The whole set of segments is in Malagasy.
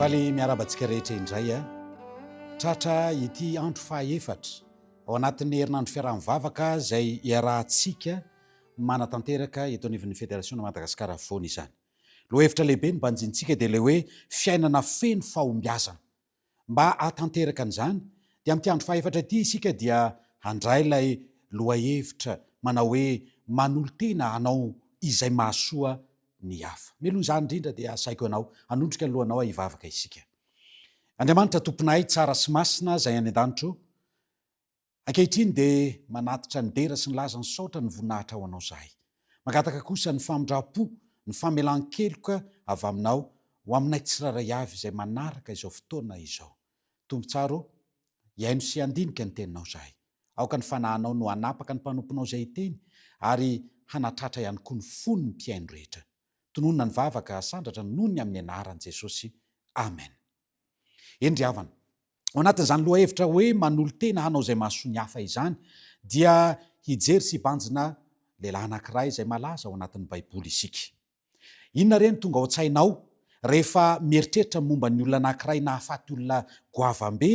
Faly miarahaba antsika rehetra indray a. Tratra ity andro fahaefatra ao anatin'ny herinandro fiaraha-mivavaka izay iarahantsika manatanteraka eto anivon'ny Federasiona Madagasikara Afovoany izany. Lohahevitra lehibe no banjintsika dia ilay hoe fiainana feno fahombiazana. Mba hahatanteraka an'izany, dia amin'ity andro fahefatra ity isika dia handray ilay lohahevitra manao hoe manolo-tena hanao izay mahasoa ny hafa. Mialoha izany indrindra dia asaiko anao hanondrika ny lohanao aho hivavaka isika. Andriamanitra Tomponay tsara sy masina izay any an-danitra ô, Ankehitriny dia manatitra ny dera sy ny laza ny saotra ny voninahitra ho anao zahay. Mangataka kosa ny famindram-po, ny famelan-keloka avy aminao ho aminay tsirairay avy izay manaraka izao fotoana izao. Tompotsara ô, hihaino sy handinika ny teninao zahay. Aoka ny fanahinao no hanapaka ny mpanomponao izay hiteny ary hanatratra ihany koa ny fon'ny mpihaino rehetra. Tononina ny vavaka asandratra noho ny amin'ny anaran'i Jesosy. Amen. Eny ry havana. Ao anatin'izany lohahevitra hoe manolo-tena hanao izay mahasoa ny hafa izany dia hijery sy hibanjina lehilahy anankiray izay malaza ao anatin'ny Baiboly isika. Inona re no tonga ao an-tsainao rehefa mieritreritra momba ny olona anankiray nahafaty olona goavambe?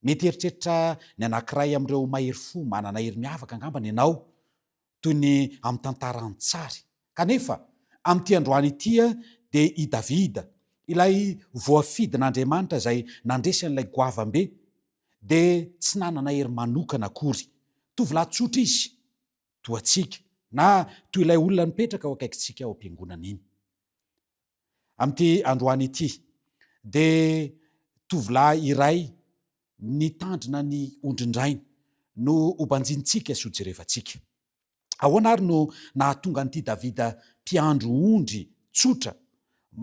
Mety hieritreritra ny anankiray amin'ireo mahery fo manana hery miavaka angambany ianao, toy ny amin'ny tantara an-tsary. Kanefa, amin'ity androany ity dia i Davida, ilay voafidin'Andriamanitra izay nandresy an'ilay goavambe, dia tsy nanana hery manokana akory. Tovolahy tsotra izy, toa antsika, na toy ilay olona nipetraka eo akaikintsika ao am-piangonana iny. Amin'ity androany ity dia tovolahy iray nitandrina ny ondrin-drainy no hobanjintsika sy hojerevantsika. Ahoana ary no nahatonga an'ity Davida mpiandry ondry tsotra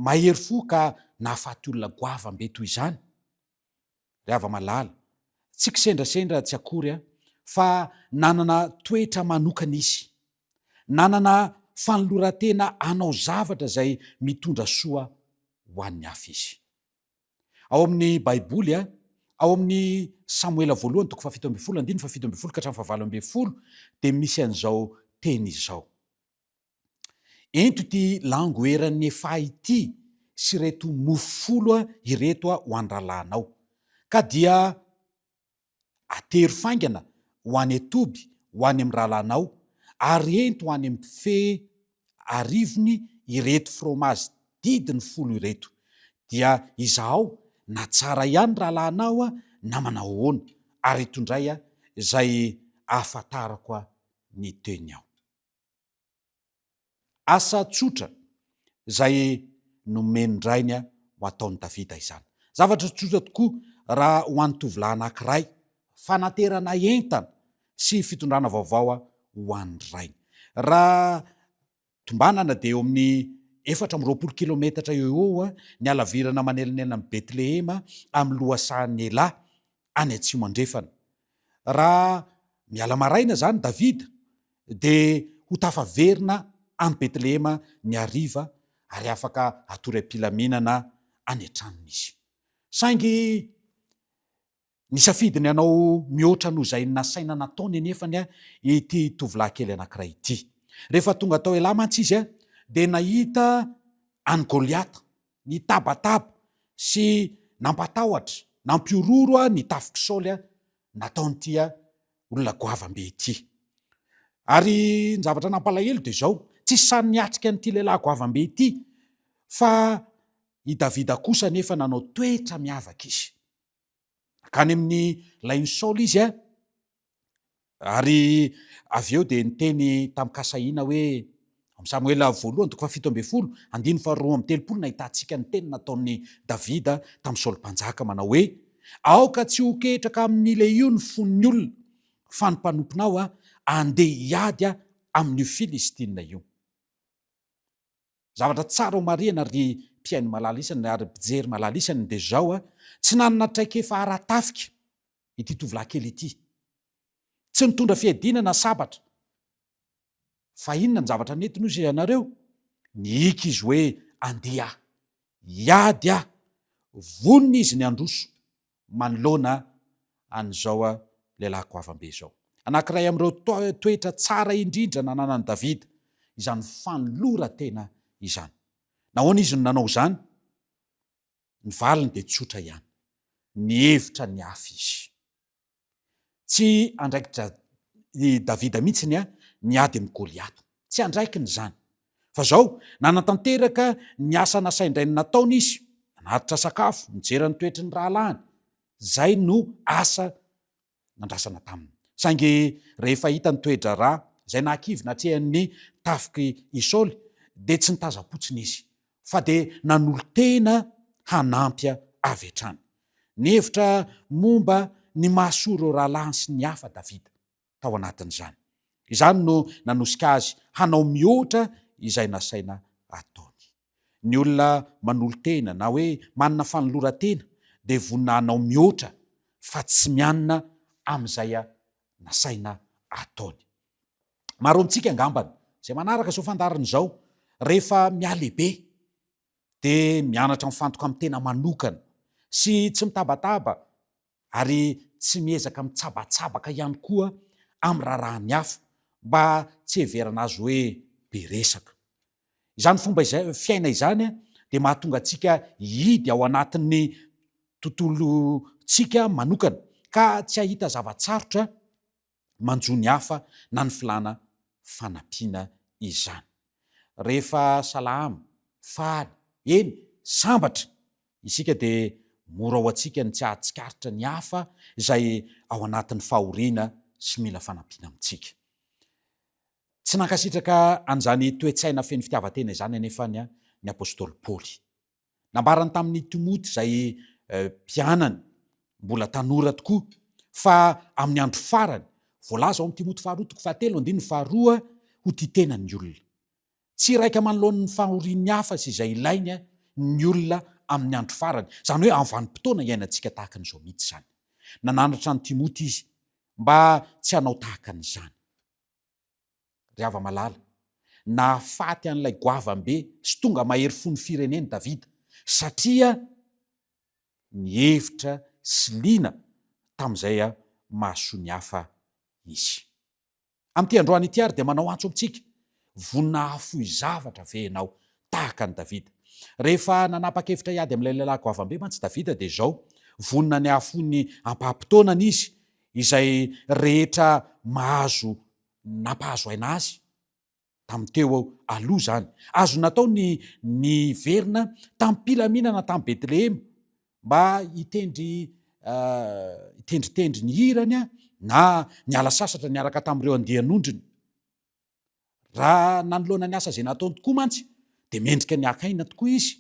mahery fo ka nahafaty olona goavambe toy izany? ry hava-malala, tsy kisendrasendra tsy akory aho, fa nanana toetra manokana izy. Nanana fanoloran-tena hanao zavatra izay mitondra soa ho an'ny hafa izy. Ao amin'ny Baiboly, ao amin'ny Samoela voalohany, toko fahafito ambin'ny folo, andininy fahafito ambin'ny folo ka hatramin'ny fahavalo ambin'ny folo, dia misy an'izao teny izao. Ento ity lango eran'ny Efa ity sy ireto mofo folo ireto ho an-drahalahinao. Ka dia atero faingana ho any an-toby ho any amin'ny rahalahinao, ary ento ho any amin'ny bofehy arivony ireto fromazy didiny folo ireto. Dia izahao na tsara ihany ny rahalahinao na manao ahoana, ary eto indray izay ahafantarako ny teniao. Asa tsotra izay nomen-drainy ho ataon'i Davida izany. Zavatra tsotra tokoa raha ho an'ny tovolahy anankiray, fanaterana entana sy fitondrana vaovao ho an'ny rainy. Raha tombanana dia eo amin'ny efatra amby roapolo kilometatra eo ho eo ny halavirana manelinelina an'i Betlehema amin'ny lohasahan'i Ela, any atsimo andrefana. Raha miala maraina izany Davida, dia ho tafaverina any Betlehema ny hariva ary afaka hatory am-pilaminana any an-tranony izy. Saingy nisafidy ny hanao mihoatra noho izay nasaina nataony anefany ity tovolahy kely anankiray ity. Rehefa tonga tao Ela mantsy izy, dia nahita an'i Goliata Nitabataba sy nampatahotra, nampihorohoro ny tafik'i Saoly nataon'ity olona goavambe ity. Ary ny zavatra nampalahelo dia izao, tsy sahy niatrika an'ity lehilahy goavambe ity, fa i Davida kosa anefa nanao toetra miavaka izy. Hankany amin'ny lain'i Saoly izy a! Ary avy eo dia niteny tamin'i Kasahiana hoe, Amin'ny Samoela voalohany toko fahafito ambin'ny folo, andininy faharoa amby telopolo no ahitantsika ny teny nataon'i Davida tamin'i Saoly Mpanjaka, manao hoe, Aoka tsy ho ketraka amin'ny lehio ny fon'ny olona, fa ny mpanomponao andeha hiady amin'io Filistina io. Zavatra tsara homarihina ry mpihaino malala isany ary mpijery malala isany dia izao a, tsy nanana traikefa ara-tafika ity tovolahy kely ity. Tsy nitondra fiadiana na sabatra. Fa inona ny zavatra nentiny hoy ianareo? Nihiaka izy hoe andeha hiady aho. Vonona izy ny handroso manoloana an'izao lehilahy goavambe izao. Anankiray amin'ireo toetra tsara indrindra nananan'i Davida izany fanoloran-tena izany. Nahoana izy no nanao izany? Ny valiny dia tsotra ihany, Nihevitra ny hafa izy. Tsy andraikitra i Davida mihitsy ny niady amin'i Goliata. Tsy andraikiny izany. Fa izao, nanatanteraka ny asa nasain-drainy nataony izy. Nanatitra sakafo, nijery ny toetry ny rahalahiny. Izay no asa nandrasana taminy. Saingy rehefa hita ny toe-draharaha, izay nahakivy natrehan'ny tafik'i Saoly, dia tsy nitazam-potsiny izy. fa dia nanolo-tena hanampy avy hatrany. Nihevitra momba ny mahasoa ireo rahalahiny sy ny hafa Davida, tao anatin'izany. Izany no nanosika azy hanao mihoatra izay nasaina ataony. Ny olona manolo-tena, na hoe manana fanoloran-tena, dia vonona hanao mihoatra, fa tsy mianina amin'izay nasaina ataony. Maro amintsika angambany izay manaraka izao fandaharana izao, rehefa mihalehibe dia mianatra mifantoka amin'ny tena manokana sy tsy mitabataba ary tsy miezaka mitsabatsabaka ihany koa amin'ny raharahan'ny hafa mba tsy hiheverana azy hoe be resaka. Izany fomba izay fiaina izany dia mahatonga antsika hihidy ao anatin'ny tontolontsika manokana ka tsy hahita zava-tsarotra manjo ny hafa na ny filàna fanampiana izany. Rehefa salama, faly, eny, sambatra isika dia mora ho antsika ny tsy hahatsikaritra ny hafa izay ao anatin'ny fahoriana sy mila fanampiana amintsika. Tsy nankasitraka an'izany toe-tsaina feno fitiavan-tena izany anefa ny apostoly Paoly. Nambarany tamin'i Timoty izay mpianany mbola tanora tokoa fa amin'ny andro farany, voalaza ao amin'ny Timoty faharoa toko fahatelo andininy faharoa, ho tia tena ny olona. Tsy iraika manoloana ny fahorian'ny hafa sy izay ilainy ny olona amin'ny andro farany, izany hoe amin'ny vanim-potoana iainantsika tahaka an'izao mihitsy izany. Nananatra an'i Timoty izy mba tsy hanao tahaka an'izany. ry hava-malala, nahafaty an'ilay goavambe sy tonga mahery fon'ny fireneny Davida, satria nihevitra sy liana tamin'izay mahasoa ny hafa izy. Amin'ity androany ity àry dia manao antso amintsika, Vonona hahafoy zavatra ve ianao, tahaka an'i Davida? Rehefa nanapa-kevitra hiady amin'ilay lehilahy goavambe mantsy Davida, dia izao, Vonona ny hahafoy ny ampaham-potoanany izy, izay rehetra mahazo nampahazo aina azy tamin'ny teo aloha izany. Azo natao ny niverina tamim-pilaminana tany Betlehema mba hitendry hitendritendry ny hirany na niala sasatra niaraka tamin'ireo andian'ondriny. Raha nanoloana ny asa izay nataony tokoa mantsy dia mendrika ny haka aina tokoa izy,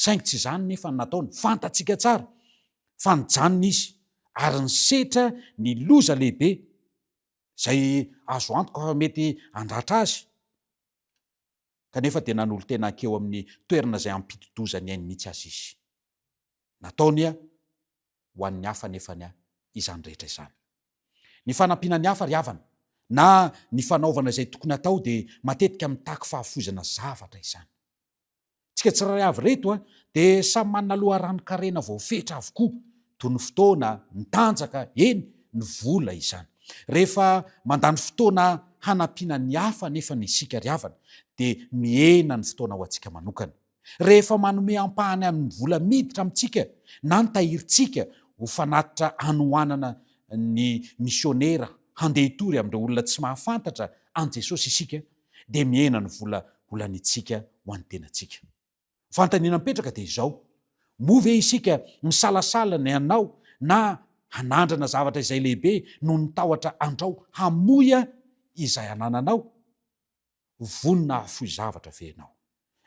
saingy tsy izany nefa ny nataony. Fantatsika tsara fa nijanona izy ary nisetra ny loza lehibe izay azo antoka fa mety handratra azy, kanefa dia nanolo-tena hankeo amin'ny toerana izay hampidi-doza ny ainy mihitsy aza izy. Nataony ho an'ny hafa anefany a izany rehetra izany. Ny fanampiana ny hafa ry havana na ny fanaovana izay tokony hatao dia matetika mitaky fahafoizana zavatra izany. Tsika tsirairay avy reto a dia samy manana loharanon-karena voafetra avokoa toy ny fotoana, ny tanjaka, eny ny vola izany. Rehefa mandany fotoana hanampiana ny hafa anefany isika ry havana dia mihena ny fotoana ho antsika manokana. rehefa manome ampahany amin'ny vola miditra amintsika na ny tahirintsika ho fanatitra hanohanana ny misionera handeha hitory amin'ireo olona tsy mahafantatra an'i Jesosy isika, dia mihena ny vola holanintsika ho an'ny tenantsika. Fanontaniana mipetraka dia izao, Moa ve isika misalasala ny hanao na hanandrana zavatra izay lehibe noho ny tahotra andrao hamoy izay anananao? ho vonona hahafoy zavatra ve ianao?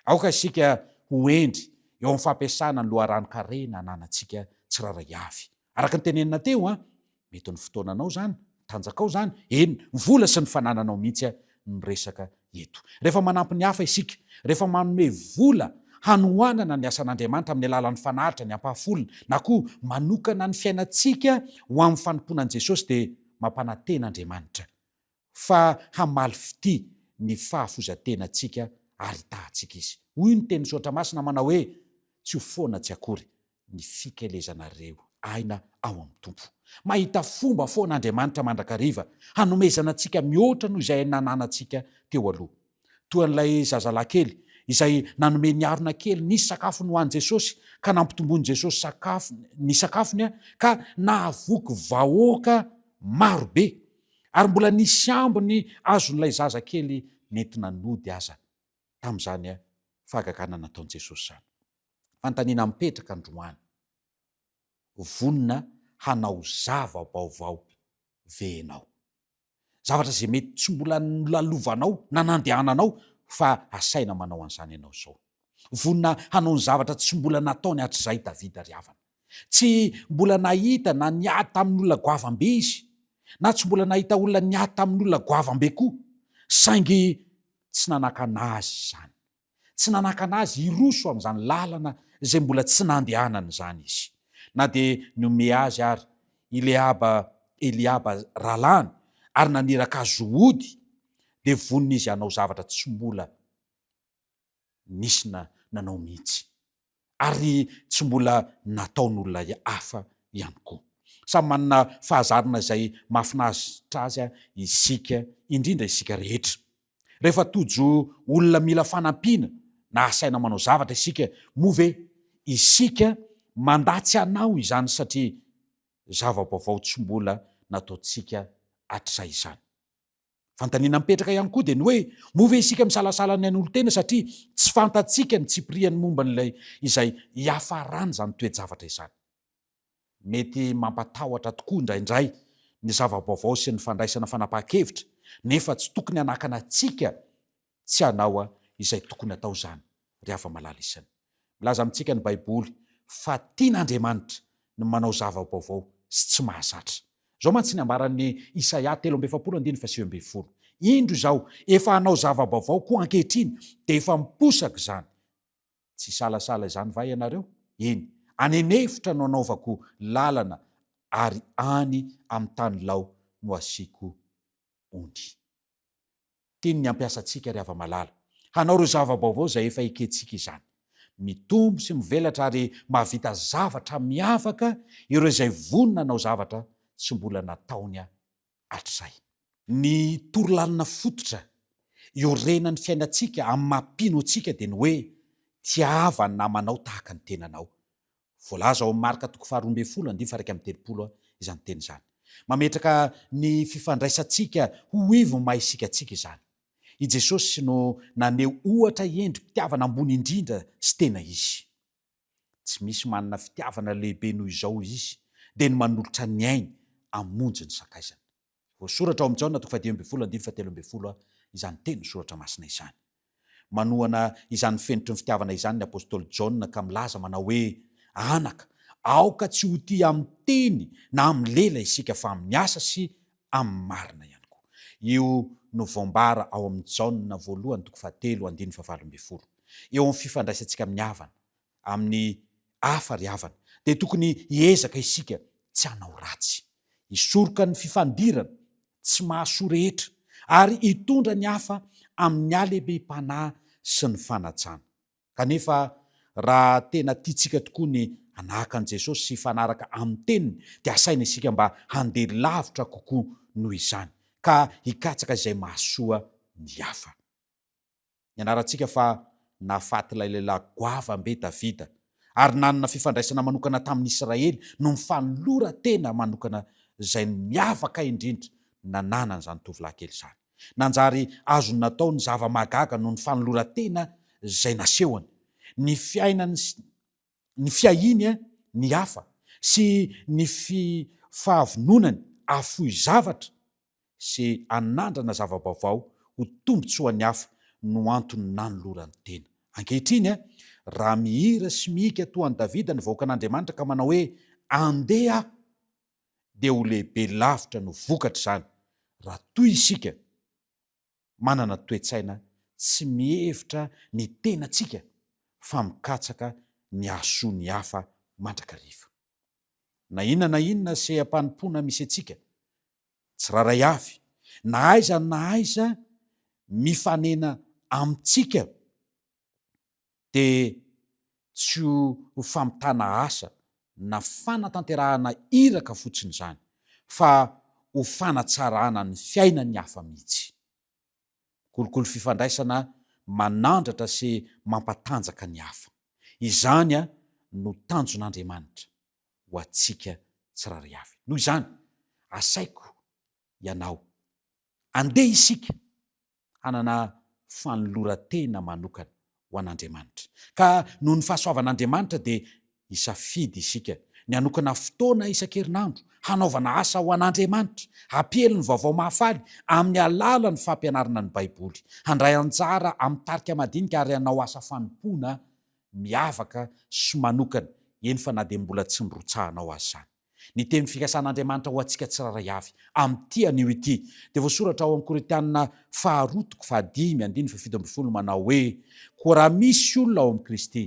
Aoka isika ho hendry eo amin'ny fampiasana ny loharanon-karena ananantsika tsirairay avy. Araka ny tenenina teo, mety ny fotoananao izany, ny tanjakao izany, eny, ny vola sy ny fanananao mihitsy no resaka eto. Rehefa manampy ny hafa isika, rehefa manome vola hanohanana ny asan'Andriamanitra amin'ny alalan'ny fanalitra ny ampahafolony, na koa manokana ny fiainantsika ho amin'ny fanompoana an'i Jesosy, dia mampanantena Andriamanitra fa hamaly fitia ny fahafoizan-tenantsika ary hitahantsika Izy. Hoy ny tenin'ny Soratra Masina manao hoe, Tsy ho foana tsy akory ny fikelezanareo aina ao amin'ny Tompo. Mahita fomba foana Andriamanitra mandrakariva hanomezana antsika mihoatra noho izay nananantsika teo aloha. toa an'ilay zazalahy kely izay nanome ny harona kely nisy sakafony ho an'i Jesosy, ka nampitomboin'i Jesosy sakafo, ny sakafony, ka nahavoky vahoaka maro be, ary mbola nisy ambiny azon'ilay zaza kely nentina nody aza tamin'izany fahagagana nataon'i Jesosy izany. Fanontaniana mipetraka androany, Vonona hanao zava-baovao ve ianao? zavatra izay mety tsy mbola nolalovanao na nandehananao fa asaina manao an'izany ianao izao. Vonona hanao ny zavatra tsy mbola nataony hatrizay Davida ry havana. Tsy mbola nahita na niady tamin'olona goavam-be izy, na tsy mbola nahita olona niady tamin'olona goavam-be koa, saingy tsy nanakana azy izany. Tsy nanakana azy hiroso amin'izany lalana izay mbola tsy nandehanany izany izy, na dia nihomehy azy àry Ileaba, Eliaba, rahalahiny, ary naniraka azy ho ody, dia vonona izy hanao zavatra tsy mbola nisy nanao mihitsy. ary tsy mbola nataon'olona hafa ihany koa. Samy manana fahazarana izay mahafinaritra azy isika, indrindra isika rehetra. Rehefa tojo olona mila fanampiana na asaina manao zavatra isika, moa ve isika mandà tsy hanao izany satria zava-baovao tsy mbola nataontsika hatrizay izany? Fanontaniana mipetraka ihany koa dia ny hoe, moa ve isika misalasala ny hanolo-tena satria tsy fantatsika ny tsipiriany momba an'ilay izay hiafaran'izany toe-javatra izany? Mety mampatahotra tokoa indraindray ny zava-baovao sy ny fandraisana fanapahan-kevitra, nefa tsy tokony hanakana antsika Tsy hanao izay tokony hatao izany ry hava-malala isany. Milaza amintsika ny Baiboly fa tian'Andriamanitra ny manao zava-baovao sy tsy mahazatra. Izao mantsy ny ambaran'i Isaia telo amby efapolo andininy fahasivy ambin'ny folo, Indro izaho efa hanao zava-baovao koa ankehitriny, dia efa miposaka izany. Tsy hisalasala izany va ianareo? Eny, any an'efitra no anaovako lalana ary any amin'ny tany lao no hasiako ony. Tiany ny hampiasa antsika ry hava-malala, hanao ireo zava-baovao izay efa ekentsika izany. Mitombo sy mivelatra ary mahavita zavatra miavaka ireo izay vonona hanao zavatra tsy mbola nataony hatrizay. Ny torolalina fototra iorenan'ny fiainantsika amin'ny maha mpino antsika dia ny hoe, Tiava ny namanao tahaka ny tenanao. Voalaza ao amin'ny Marka toko faharoa ambin'ny folo andininy faha iraika amby telopolo izany teny izany. Mametraka ny fifandraisantsika ho ivon'ny maha isika antsika izany. I Jesosy no naneho ohatra endri-pitiavana ambony indrindra sy tena izy. Tsy misy manana fitiavana lehibe noho izao izy, dia ny manolotra ny ainy hamonjy ny sakaizany. Voasoratra ao amin'i Jaona toko fahadimy ambin'ny folo andininy fahatelo ambin'ny folo izany teny ny soratra masina izany. Manohana izany fenitry ny fitiavana izany ny apostoly Jaona ka milaza manao hoe, Anaka, aoka tsy ho tia amin'ny teny na amin'ny lela isika fa amin'ny asa sy amin'ny marina ihany koa. Io no voambara ao amin'i Jaona voalohany toko fahatelo andininy fahavalo ambin'ny folo. Eo amin'ny fifandraisantsika amin'ny havana, amin'ny hafa ry havana, dia tokony hiezaka isika tsy hanao ratsy. Hisoroka ny fifandirana tsy mahasoa rehetra, ary hitondra ny hafa amin'ny halemem-panahy sy ny fanatsana. Kanefa, raha tena tiantsika tokoa ny hanahaka an'i Jesosy sy hifanaraka amin'ny teniny, dia asaina isika mba handeha lavitra kokoa noho izany, ka hikatsaka izay mahasoa ny hafa. Nianarantsika fa nahafaty ilay lehilahy goavam be Davida, ary nanana fifandraisana manokana tamin'ny Israely noho ny fanoloran-tena manokana izay miavaka indrindra nananan'izany tovolahy kely izany. Nanjary azony natao ny zava-mahagaga noho ny fanoloran-tena izay nasehony. Ny fiainany sy ny fiahiany ny hafa sy ny fahavononany hahafoy zavatra sy hanandrana zava-baovao ho tombontsoan'ny hafa no antony nanolorany tena. Ankehitriny, raha mihira sy mihiaka toa an'i Davida ny vahoakan'Andriamanitra ka manao hoe, Andeha aho! dia ho lehibe lavitra no vokatr'izany raha toy isika manana toe-tsaina tsy mihevitra ny tenantsika fa mikatsaka ny hahasoa ny hafa mandrakariva. Na inona na inona seham-panompoana misy antsika, tsirairay avy, na aiza na aiza mifanena amintsika, dia tsy ho famitana asa na fanatanterahana iraka fotsiny izany fa ho fanatsarana ny fiainan'ny hafa mihitsy. Kolikoly fifandraisana manandratra sy mampatanjaka ny hafa. Izany no tanjon'Andriamanitra ho antsika tsirairay avy. Noho izany, asaiko ianao, andeha isika hanana fanoloran-tena manokana ho an'Andriamanitra. Ka noho ny fahasoavan'Andriamanitra dia hisafidy isika ny hanokana fotoana isan-kerinandro hanaovana asa ho an'Andriamanitra, hampiely ny vaovao mahafaly amin'ny alalan'ny fampianarana ny Baiboly, handray anjara amin'ny tarika madinika ary hanao asa fanompoana miavaka sy manokana, eny fa na dia mbola tsy nirotsahanao aza izany. Ny teny fikasan'Andriamanitra ho antsika tsirairay avy, amin'ity anio ity, dia voasoratra ao amin'ny Korintiana faharoa toko fahadimy andininy fahafito ambin'ny folo manao hoe, Koa raha misy olona ao amin'i Kristy,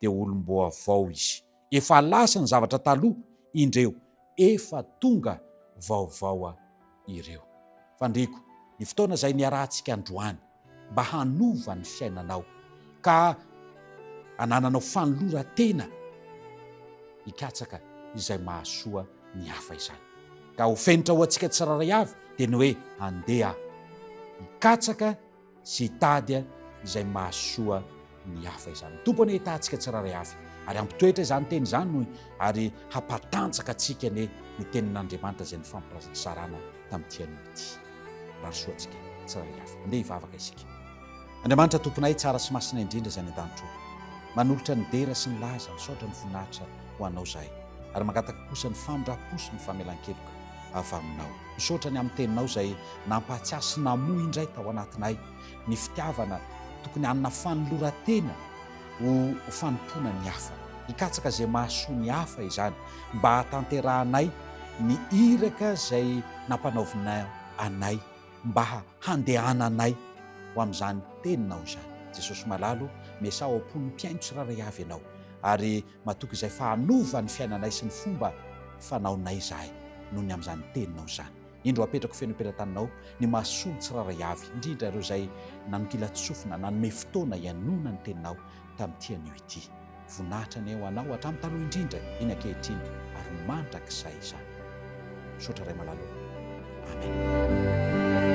dia olom-boavao izy. Efa lasa ny zavatra taloha, indreo, efa tonga vaovao. ireo. Fandriko ny fotoana izay niarahantsika androany mba hanova ny fiainanao ka hanananao fanoloran-tena hikatsaka izay mahasoa ny hafa izany. Ka ho fenitra ho antsika tsirairay avy dia ny hoe handeha hikatsaka Tsy hitady izay mahasoa ny hafa izany. Ny Tompo anie hitaha antsika tsirairay avy, ary hampitoetra izany teny izany hoy, ary hampatanjaka antsika anie ny tenin'Andriamanitra izay nifampizarana tamin'ity anio ity. Rahasoa antsika tsirairay avy. Andeha hivavaka isika. Andriamanitra Tomponay tsara sy masina indrindra izay any an-danitra ô, manolotra ny dera sy ny laza, misaotra ny voninahitra ho Anao izahay, ary mangataka kosa ny famindram-po sy ny famelan-keloka. avy Aminao. Misaotra ny amin'ny Teninao izay nampahatsiahy sy namoha indray tao anatinay ny fitiavana tokony hanana fanoloran-tena ho fanompoana ny hafa. Hikatsaka izay mahasoa ny hafa izany mba hahatanterahanay ny iraka izay nampanaovinao anay mba handehananay ho amin'izany Teninao izany. Jesosy Malalo, miasà ao am-pon'ny mpihaino tsirairay avy Ianao ary. Matoky izay fa hanova ny fiainanay sy ny fomba fanaonay izahay noho ny amin'izany Teninao izany. Indro apetrako feno am-pelan-taninao ny masoandro tsirairay avy, indrindra ireo izay nanonkilan-tsofina, nanome fotoana hihainoana ny Teninao tamin'ity anio ity. Voninahitra ny ahy ho Anao hatramin'ny taloha indrindra, eny ankehitriny ary mandrakizay izany. Misaotra Ray malala ô. Amena.